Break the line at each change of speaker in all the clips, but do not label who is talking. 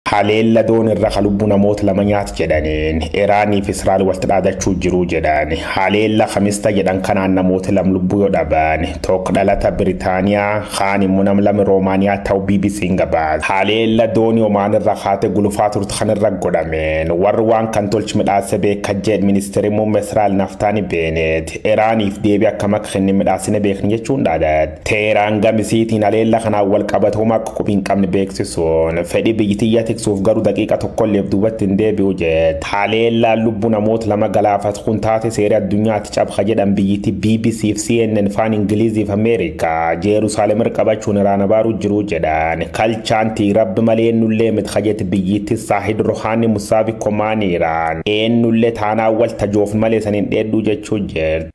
Haleella doon irra ka lubbu namoota lama nyaat jedhaniin Iraanii fi Israa'el walitti dhaadachuu jiruu jedhan. Haleella kamista jedhan kanaan namoota lam lubbuu yoo dhaban tokko dhalata Biritaaniyaa kaan immoo nam lame Roomaaniyaa ta'u BBC'n gabaase. Haleella doonii Omaan irra kaate gulufaa turte kan irra godhameen warri waan kan tolchi midhaase beeka jedhe ministeerri muummee Israa'el Naftaani Beeneet Iraaniif deebii akkam akka kenne midhaasine beekna jechuun dhaadate. Teeraan gamisiitiin haleella kanaan wal qabate homaa akka qubi hin qabne beeksisuun fedhii biyyitiyyaa tiksuuf garuu daqiiqa tokkolleef duubatti hin deebi'u jette. Haleellaan lubbuu namoota lama galaafate kun taatee seera addunyaatti cabsa jedhan biyyittii BBC fi CNN faan Ingilizii fi Ameerikaa Jeerusaalem irra qabachuun iraan abaaruu jiru jedhan. Kalchaan tii rabbi malee eennullee miti ka jette biyyittii Saahid Rohaanii Musaavi Komaaniiraan eennullee taanaan wal tajoofne malee san hin dheedduu jechuu jirti.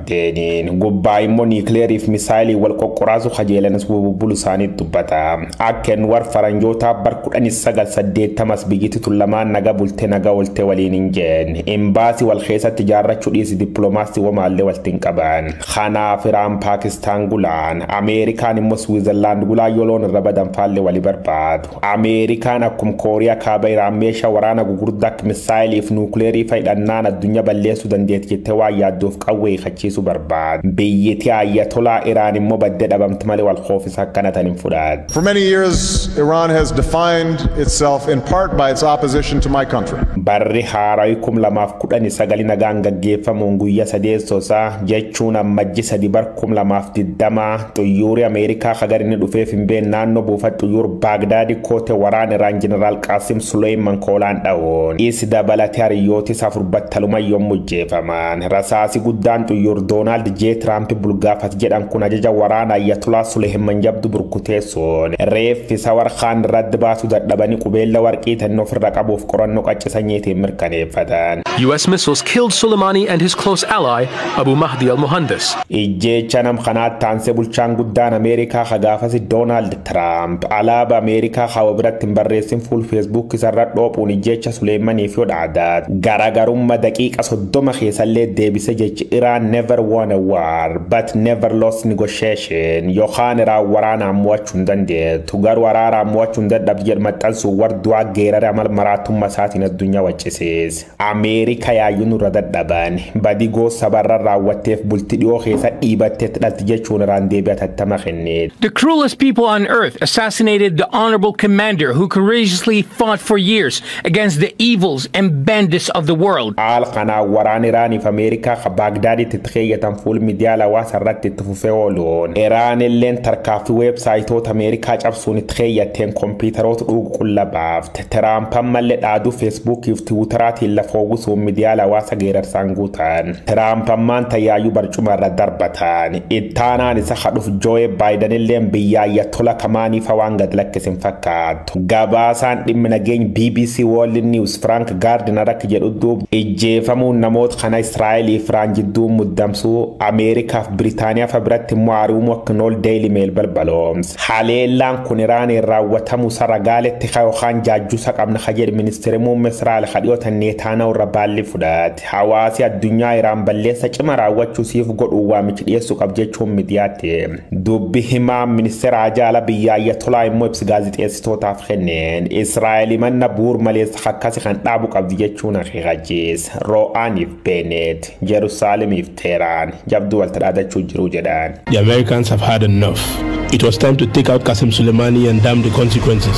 Teeniin gubbaa immoo niikleeriif misaayilii wal qoqqoraasu kajeelanis bububbulu isaanii dubbata. Akken war faranjootaa bar 1980s biyyiti tun lamaan naga bulte naga olte waliin hin jeen. Imbaasi wal keessatti jaarrachu dhiisi diplomaasti womaalle walti hin qaban. Kanaaf Iraan Paakistaan gulaan, Ameerikaan immoo Switzerland gulaa yoo loon irra badan faalle wali barbaadu. Ameerikaan akkum Kooriyaa Kaaba Iraan meesha waraana gugurdaa akka misaayilii fi nuukleerii fa'i dhannaan addunyaa balleessuu dandeetti jettee waan yaaddoof qawwee hiikachiisuu barbaaddi. Biyyiti Ayatolaa Iraan immoo baddee dhabamti malee wal hoofisa akkana tan hin fudhaaddu. For many years,
Iran has defined itself in part by its opposition to my country. Barri haarawi
2019 nagaan gaggeeffamuun guyya sadeessoo isaa jechuun ammajji 3 bar 2020 Xuyyuuri Ameerikaa hagar inni dhufeef hin been naannoo buufata xuyyuur Baagdaadi koote waraan Iraan Jeneraal Qaasim Suleeyman koolaan dha'uun is dabalate hariyyootis afur battaluma yommuu jeefaman. Rasaasi guddaan xuyyuur Doonaald J. Tiraampi bulgaafat jedhan kun ajaja waraana Ayatolaa Suleeyman jabdu burkuteessuun reeffi Sawar Khaan irratti baasu dadhabanii qubeella warqii tanni ofirra qabuuf qorannoo qacci sanyiitiin mirkaneeffatan. US missiles
killed Soleimani and his close ally Abu Mahdi al-Mohandes. Ijjeecha nam
kanaatti aansee bulchaan guddaan Ameerikaa ka gaafasi Doonaald Tiraamp alaaba Ameerikaa ka wa biratti hin barreessin fuul Feesbuuk isarra dhoophuun ijjeecha Suleeymaniif yoo dhaadat garagarumma daqiiqa 30 keessallee deebise jechi Iraan never won a war but never lost negotiation yokaan Iraan waraanaan mo'achuu hin dandeettu garuu araaraan mo'achuu hin dadhabdu jedhu maxxansuun warduwaa geerare amal maraatumma isaatiin addunyaa waccisiise. Ameerika yaayyuu nurra dadhabaani. Badii goos saba irra raawwatteef bulti dhiyoo keessa dhiibatteetti dhalti jechuun iraan deebii atattama kenne. The cruelest people
on earth assassinated the honorable commander who courageously fought for years against the evils and bandits of the world. Haal kanaan waraan
Iraaniif Ameerikaa ka Baagdaaditti itti keeyyatan fuul miidiyaa lawaasa irratti itti fufee ooluun Iraan illeen tarkaaffii weebsaayitoota Ameerikaa cabsuun itti keeyyatteen kompiitaroota dhuugu qulla baafte. Tiraamp ammalle dhaadu Feesbuukii fi Tiwuutaraatiin lafa uwwisuun midiyaal hawaasa geerarsaan guutan. Tiraamp ammaan tan yaayyu barcuma irra darbatan. Ittaanaan isa ka dhufu Jooye Baayidanilleen biyya Ayatolaa tamaanii fa waan gad lakkise hin fakkaattu. Gabaasaan dhimmi nageeny bbc World News Frank Gardner akka jedhu duub ijjeefamuun namoota kana Israa'elii fi Iraan jidduun muddamsuu Ameerikaa fi Biritaaniyaa fa biratti immoo aari'umuu akka hin ool Daily Mail balbaloomse. Haleellaan kun Iraaniin raawwatamuusa ragaaletti ka yookaan jaajjuusa qabna ka jedhe ministeeri muumme Israa'el ka dhiyootan Neetaanaahu irra baalli fudhate. Hawaasi addunyaa Iraan balleessa cima raawwachuu siif godhuun waamichi dhiyeessu qab jechuun midiyaatti dubbi himaan ministeera haajaa ala biyya Ayatolaa immoo ibsi gaazixeessitootaaf kenneen Israa'el himanna buur maleessa kakkasi kan dhaabu qabdi jechuun akeekachiis. Roo'aaniif Beeneet, Jerusaaleemiif Teeraan, Jabduu wal tadhaadachuu jiru jedhan. The Americans
have had enough. It was time to
take
out Qasim Soleimani and damn the consequences.